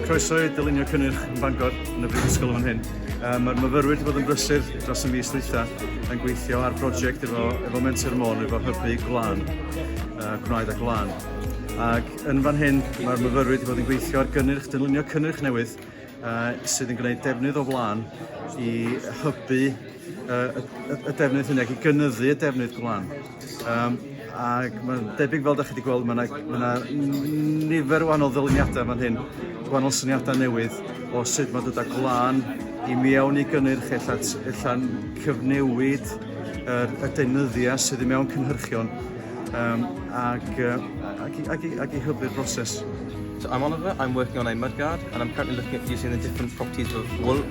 Croeso i dylunio cynnyrch yn Bangor yn y Brifysgol yn hyn. Um, Mae'r myfyrwyr wedi bod yn brysur dros y mis dwytha yn gweithio ar brosiect efo, efo Mentor Môn, efo hybu glan, uh, gwnaed a glan. Ac yn fan hyn, mae'r myfyrwyr wedi bod yn gweithio ar gynnyrch, dylunio cynnyrch newydd uh, sydd yn gwneud defnydd o flan i hybu uh, y, y defnydd hynny ac i gynyddu y defnydd glan. Um, ac mae'n debyg fel da chi wedi gweld, mae yna nifer o wahanol ddyluniadau fan hyn, gwahanol syniadau newydd o sut mae dod â glân i mewn i gynnyrch ella'n cyfnewid yr, y deunyddiau sydd i mewn cynhyrchion um, ac, uh, ac, i, ac, i, ac i hybu'r broses. So I'm Oliver, I'm working on a mudguard and I'm currently looking at using the different properties of wool